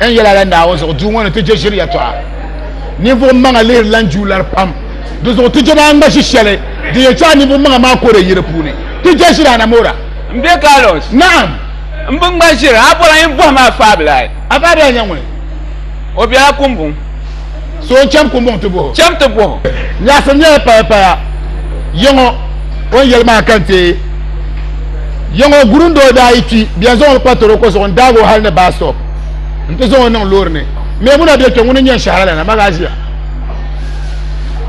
N yɛla la Naawuni zuɣu duu ŋɔ ni ti je ʒiri yɛtɔɣa. Ninvuɣ maŋa lihiri lan ju lari pam. Di zuɣu ti je maa ŋma ʒi shɛli din yɛn chaai ninvuɣ maŋa maa koora yi di puuni. Ti je ʒiri anamora. M be Carlos. Naɣim. M bi ŋma ʒiri. A bɔla yin bɔhim a faabila? A faabila nyɛ ŋuni? O bela Kumbuŋ. So n cham kumbuŋ ti boho. Cham ti boho. Nyaɣisim nyɛla paya paya. Yiŋɔ o ni yɛli maa ka n teei. Yiŋɔ guri n doo daa yi kpi bɛn zaŋ o kpa toroko zuɣu n daag o hali ni baa stop n ti zaŋ o niŋ loori ni. Meemuna bɛ kpe ŋuni n yɛn shɛhira lana ma gaa ʒiya.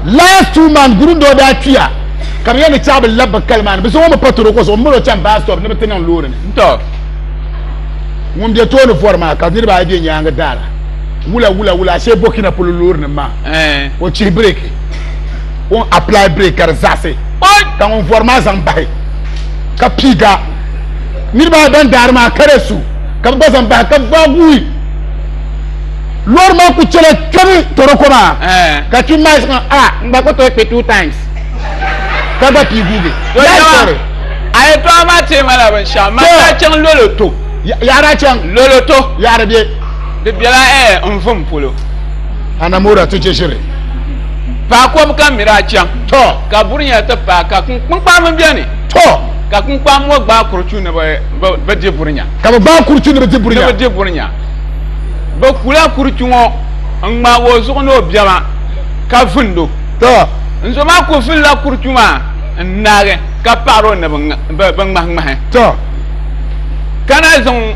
Last two months guri n doo daa kpiya ka bɛ yɛn ni chaɣi bi lab bi kali maa ni bɛ zaŋ o mi pa toroko zuɣu m mali o chaŋ baa stop ni bɛ ti niŋ loori ni. Ŋun bɛ tooni vɔri maa ka niriba ayi bɛ nyaangi daara. wula wula wula ashe burkina polo loori nim maa eh. o chihi break o apply break ka di zaɣisi ka ŋun vɔri maa zaŋ bahi ka piiga niriba ayi ban daari maa ka di su ka bi gba zaŋ bahi ka vaaguui loori maa ku chɛla kpɛbi toroko maa eh. ka kpi maa zaŋ a ah, n gba ku tooi kpi two times ka gba piiguugi a yi tɔɣa maa teemala binshɛɣu maa daa chaŋ lolo to yaɣara chaŋ lolo to yaɣara bɛ Di bela ɛɛ n vum polo. Anamora ti chɛshiri. Paɣa kɔbu ka miri a chaŋ. Tɔ. Ka burinya ti paai ka kunkpaa mini bɛ ni. Tɔ. Ka kunkpaa ŋɔ gbaai kurichu ni bi di burinya. Ka bi gbaai kurichu ni bi di burinya. Ni bi di burinya. Bi kula kurichu ŋɔ n ŋmaagi o zuɣu ni o bɛma ka vindo. Tɔ. N zo maa ku vilila kurichu maa n naagi ka paɣiri o ni bi ŋmahi ŋmahi. Tɔ. Ka na zaŋ.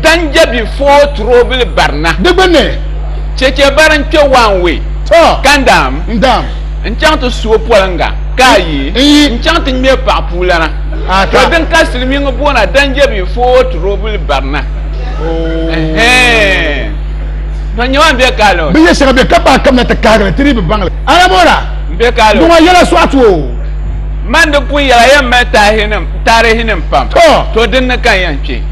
Dan Jabi Foo Turoobili Barina. Di gbunni. Chɛchɛ bari n-kpe one way. Tɔ! Ka n daam. N daam. N-chaŋ ti su o poliŋga. Ka a yi. N yi. N-chaŋ ti ŋme paɣa puulana. A ta. Tɔ din ka silimiiŋ boona Dan Jabi Foo Turoobili Barina. Ooh. Ɛhɛɛn. Tɔ nyama m-be ka lɔɔ. Binyɛr shɛŋa be ka paɣa kamina ti kahigi li, ti dii bi baŋ li. A Lamora! M-be ka lɔɔ. Di ŋɔ yɛla sɔɣa ti o. Man di pun yɛla yɛn mali taarihinim pam. Tɔ! Tɔ dinni ka n yɛn kpe?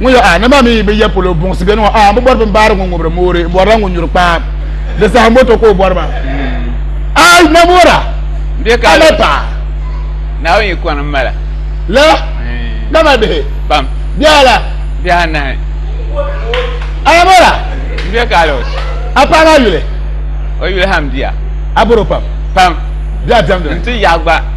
ŋun yɛ a na maa mi yi bi yɛ polo buŋsi bɛ nima a bi bɔri bin baari ŋun ŋubiri moori n bɔrila ŋun nyuri kpaam di saha moto ka o bɔri ba a na moora ka na paɣa na yi kɔni mala la na ma bihi pam bihi ala bihi anahi a na moora n bɛ ka alos a paɣa maa yuli o yuli ham biya a bɔri pam pam biya dɛmdi n ti yaɣa gba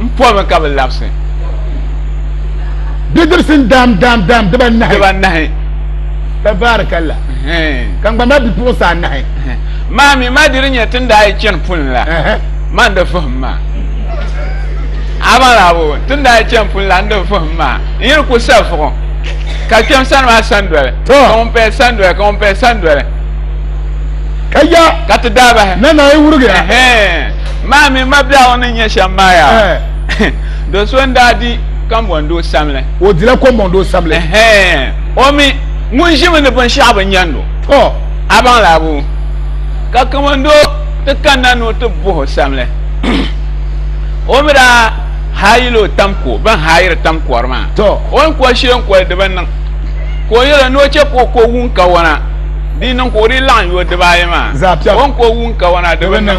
n pɔhimi ka bi labisi bidibisi n daam daam daam diba nahi tabaarikalla ka n gba ma bipuɣinsi anahi maa mi maa diri nyɛ tin daa yi chani puni la maa n di fahim maa amalabo tin daa yi chani puni la n di fahim maa n yiri ku sa vuɣu ka kpɛm sani maa sandoli ka ŋun paya sandoli ka ŋun paya sandoli ka ya ka ti daabahi na na yi wurigi Maa mini mabiɛɣu ni nyɛ shɛm maa yaa. Do so n-daa di kambɔndoo samli. O dila kɔmbɔndoo samli. O mi ŋun ʒimi ni binshɛɣu bi nyandi o. Tɔ! A baŋ laa buu? Ka kambɔndoo ti kanna ni o ti buh o samli. O mi daa haayila o tam ko, bɛn haayiri tam kɔri maa. Tɔ! O ni kɔri shee n-kɔri di bi niŋ. Ka o yɛl o ni o chɛ ka o ko wuŋ kawana di niŋ ka o dii laɣim yo dibaayi maa. Zaɣ piɛm! O ni ko wuŋ kawana di bi niŋ.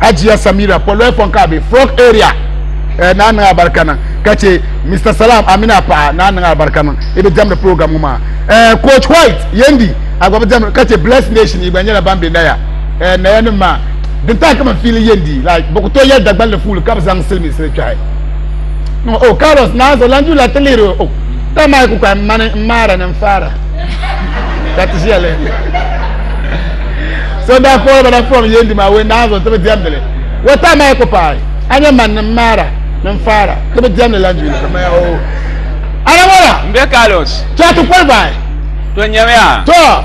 ajiya samira pɔlɔɛ pɔn ka a be frog area eh, naa niŋ abarika niŋ ka che mr salam amina paɣa naa niŋ abarika niŋ i bi diɛmdi program ŋɔ maa eh, coach white yendi a gba bi diɛmdi ka che bless nation i gba nyɛla ban be naya eh, naya nim maa din tahi kama fiili yendi like bi ku to yɛli dagballi fuuli ka bi zaŋ siliminsili kpɛhi no oh carlos naa zo lan ju la ti lihiri o oh, ta maa ku kpahi mani n maara ni n faara ka ti ʒiya lihiri so daa fɔɔri ba na fɔɔri yeendi maa wei naa zuɣu ti bi diɛmdili wata maa ku paai a nyɛ man ni maara ni faara ti bi diɛmdi lan juuli anamola n bɛ kalos chɛ ti kɔli baai to nyɛmiya to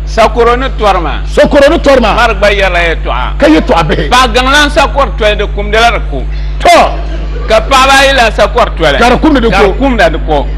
sakoro ni tɔri ma sakoro ni tɔri ma mari gba yɛrila yɛ tɔɣa ka yɛ tɔɣa bihi paɣa gaŋlan sakɔri tɔli di kumdila di ko to ka paɣaba ayi la sakɔri tɔli ka di kumdi di ko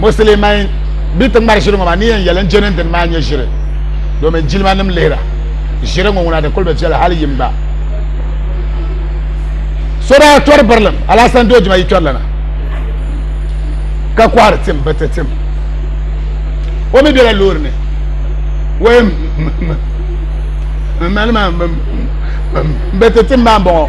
musulman bi ti ŋmari ʒiri ŋɔ maa ni yɛn yɛli n jɛ ni dini maa nyɛ ʒiri domin jilima nim lihira ʒiri ŋɔ ŋuna di kuli bi viɛli hali yim gba so daa tɔri birilim alasan doo jima yi tɔri lana ka kɔhiri tim bi ti tim o mi bela loori ni wee m mali maa m be ti tim maa m bɔŋɔ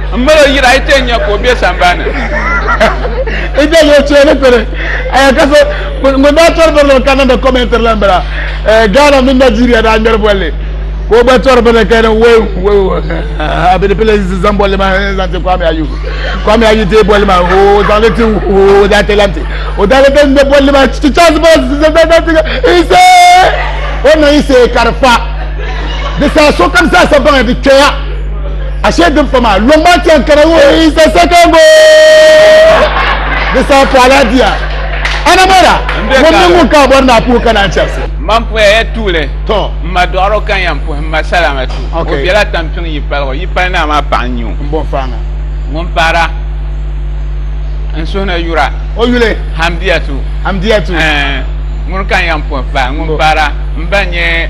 M mali o yiri a yi ti yɛn nya ka o be sambani. N dali o cheeni kuli. Aya ka so ŋun daa tɔri bini ŋɔ ka niŋdi kɔmɛntiri la m-bala. Ghana mini Nigeria daa ŋmɛri bolli ka o gba tɔri bini ka niŋ weu weu a bɛ di pili n zaŋ bolli maa n zaŋ ti Kwame Ayu. Kwame Ayu deei bolli maa o zaŋ li ti o daa ti lan ti. O daa lee ŋmɛ bolli maa ti Charles Bukky daa zaŋ ti ka Ise! O niŋ Ise ka di fa. Di saha sokam zaa sa baŋya di kpɛya. ashe din pa maa lɔŋ maa chɛŋ kana wo is the second goal di saa paɣala diya anamara ŋun mini ŋun ka bɔri naa puhi kana n chɛrisi man puhiya ya tuuli tɔ n ma dɔɣaro kan yan puhi n ma salama tu o bela tampiŋ yi paligo yi pali naa maa paɣa n nyɛ o n bɔn faaŋa ŋun paara n suhi ni yura o yuli hamdiya tu hamdiya tu ŋun kan yan puhi pahi ŋun paara n ba nyɛ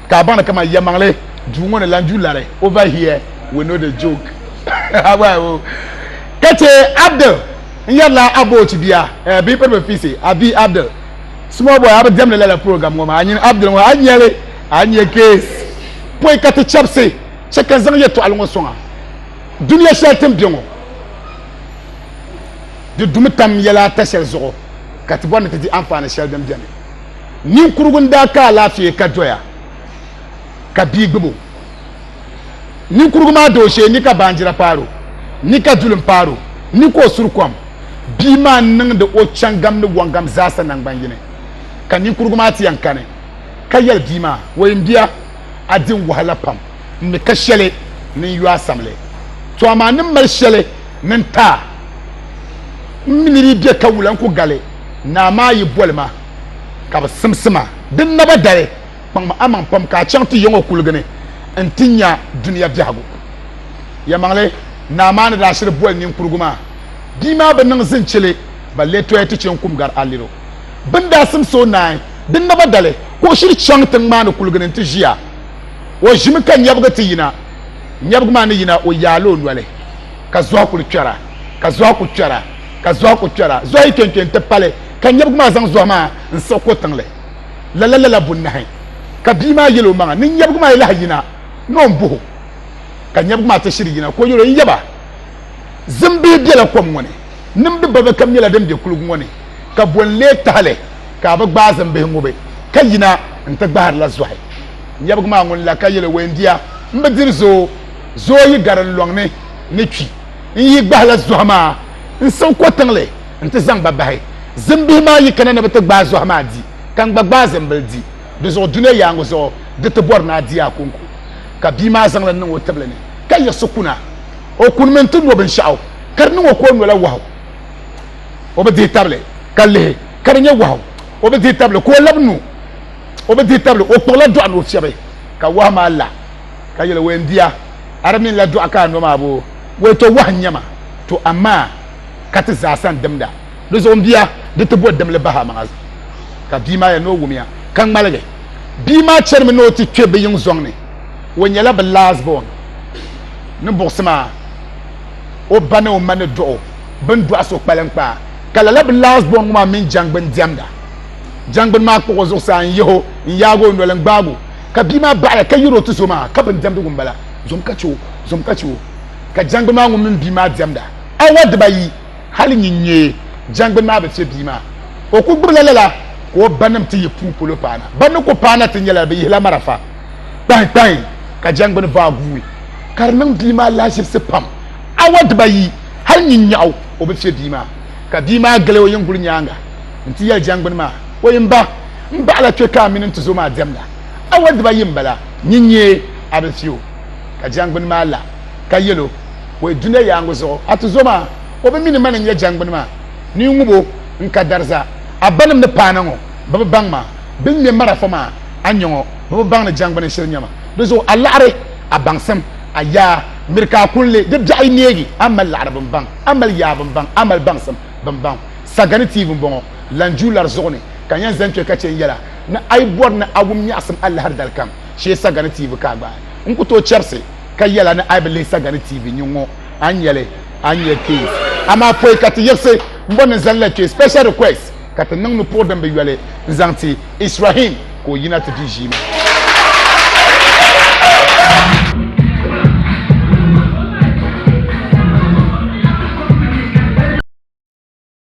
Ka a baŋdi kaman yɛlimaŋli duu ŋɔ ni lan du lari, over here we know the joke. Ka chɛ Abdul n-yɛrila Aboochi bia bee Piriba Fiise, a bia Abdul, Small boy, a bi diɛmdi lala program ŋɔ maa, a nyini Abdul ŋɔ a nya li, a nya kees pɔi ka ti chabisi, chɛ ka n zaŋ yɛtɔɣili ŋɔ sɔŋ a. Dunia shɛli ti ni be ŋɔ, di dumi tam yɛla ata shɛli zuɣu ka ti bɔri ni ti di anfaani shɛli din beni. Ninkurigu n daa ka alaafee ka doya ka bia gbubo. Ninkurigu maa da o shee ni ka baanjira paaro ni ka dulim paaro ni ka o suri kom. Bia maa n niŋdi o chaŋgam ni wɔŋgam zaasa naŋgban yini. Ka ninkurigu maa ti yan kani ka yɛli bia maa, Wei m bia, a di n wahala pam n ni ka shɛli ni n yo a samli. Tɔ amaa ni mali shɛli ni n taai. M mi ni di be ka wula n ku gali naa maa yi boli ma. ka bi simsi ma din naba dali kpaŋmi amaŋ pam ka a chaŋ ti yiŋɔ kuligi ni n-ti nya dunia biɛhigu. Yɛlimaŋli, naa maa ni daa shiri boli ninkurigu maa bia maa bi niŋ zinchili ba lee toya ti che n-kum gari a liro. Bɛ ni daa simsi o naai din naba dali ka o shiri chaŋ tiŋ maa ni kuligi ni n-ti ʒia. O ʒimi ka nyɛbigi ti yina nyɛbigu maa ni yina o yaai la o noli ka zɔhi kuli kpɛra ka zɔhi kuli kpɛra. ka zɔhi ku kpɛra zɔhi yi kpɛnkpɛ n ti pali ka nyɛbigu maa zaŋ zɔhi maa n siɣi ko tiŋli lala lala bunnahi ka bia maa yɛl o maŋa ni nyɛbigu maa yi lahi yina ni o buhu ka nyɛbigu maa ti shiri yina ka o yɛl o yaba zimbihi bela kom ŋɔ ni nimdi balibu kam nyɛla din be kuligu ŋɔ ni ka bo n lee tahali ka a bi gbaai zimbihi ŋubi ka yina n ti gbaharila zɔhi nyɛbigu maa ŋun la ka yɛl o weendia m bi diri zoo zoo yi gari n lɔŋ ni ni kpi n yi gbahila zɔhi maa n siɣi ko tiŋli n ti zaŋ ba bahi zimbihi maa yi kana ni bi ti gbaai zɔhi maa di ka n gba gbaai zimbili di di zuɣu dunia yaaŋɔ zuɣu di ti bɔri ni a di a kɔŋko ka bia maa zaŋ li niŋ o tibili ni ka yiɣisi kuna o kunimi n ti no binshɛɣu ka di niŋ o ka o nola wahu o bi dihi tabili ka lihi ka di nyɛ wahu o bi dihi tabili ka o labi nu o bi dihi tabili o kpuɣila dɔɣu ni o fiɛbi ka wahu maa la ka yɛli wɛn bia a di mini la dɔɣu ka a nɔ maa boo wɛi tɔ wahu n-nyɛ ma to amaa ka ti zaasa n-dimda di zuɣu m bia di ti bo dimli bahi amaŋa zuɣu ka bia maa yɛli ni o wumiya ka ŋmaligi bia maa chanimi ni o ti kpe bɛ yiŋ zɔŋ ni o nyɛla bɛ last born ni buɣisi maa o ba ni o ma ni dɔɣu bɛn dɔɣi so kpalim kpaa ka lala bɛ last born ŋɔ maa mini jangbuni diɛmda jangbuni maa kpuɣi o zuɣusaa n-yihi o n-yaagi o noli n-gbaagi o ka bia maa baɣaya ka yɛri o ti zo maa ka bin diɛmdigu m-bala zom ka che o zom ka che o ka jɛngbuni maa ŋun mini bia maa diɛmda awa dibayi hali nyin nya jɛngbuni maa bi che bia maa o ku gbubila lala ka o banim ti yi puu polo paana ban ni ku paana ti nyɛla bɛ yihila marafa kpahi kpahi ka jɛngbuni vaa guui ka di niŋ bia maa lahiʒibisi pam awa dibayi hali nyin nyaɣu o bi che bia maa ka bia maa gili o yinguli nyaaŋa n ti yɛli jɛngbuni maa, O yi mba, m baɣila kpe ka a mini n tuzo maa diɛmda. Awɔli dibaayi m-bala, nyin n-nyɛ a bilifiu. Ka jɛngbuni maa la, ka yɛl o, O yi dunia yaaŋa zuɣu, a tuzo maa, o bi mi ni mani n-nyɛ jɛngbuni maa, ni n ŋub o, n ka dariza. A banim ni paana ŋɔ, bɛ bi baŋ ma. Bɛ ni ŋme marafa maa a ni nya ŋɔ, bɛ bi baŋ ni jɛngbuni shili n-nyɛ ma. Di zuɣu a laɣiri a baŋsim, a yaa, miri ka a kuli li. Di biɛɣu yi neegi, a mali laɣiri bimbaŋ, a mali yaa bimbaŋ, a mali baŋsim bimbaŋ. Sagani tiibu m-bɔŋɔ, lan ju lari zuɣu ni ka n yɛn zani kpe ka chɛ n-yɛla ni a yi bɔri ni a wum nyaɣisim alahiri dali kam shee sagani tiibu ka a gbaai. N ku tooi chɛbisi ka yɛla ni a yi bi lihi sagani tiibu nyin ŋɔ a ni nya li, a ni nya kpeezi. Amaa pɔi ka ti yiɣisi m-bɔri ni n zani la kpe, special request, ka ti niŋ nupuɣ din bi yoli n-zaŋ ti Israhim ka o yina ti di ʒiima.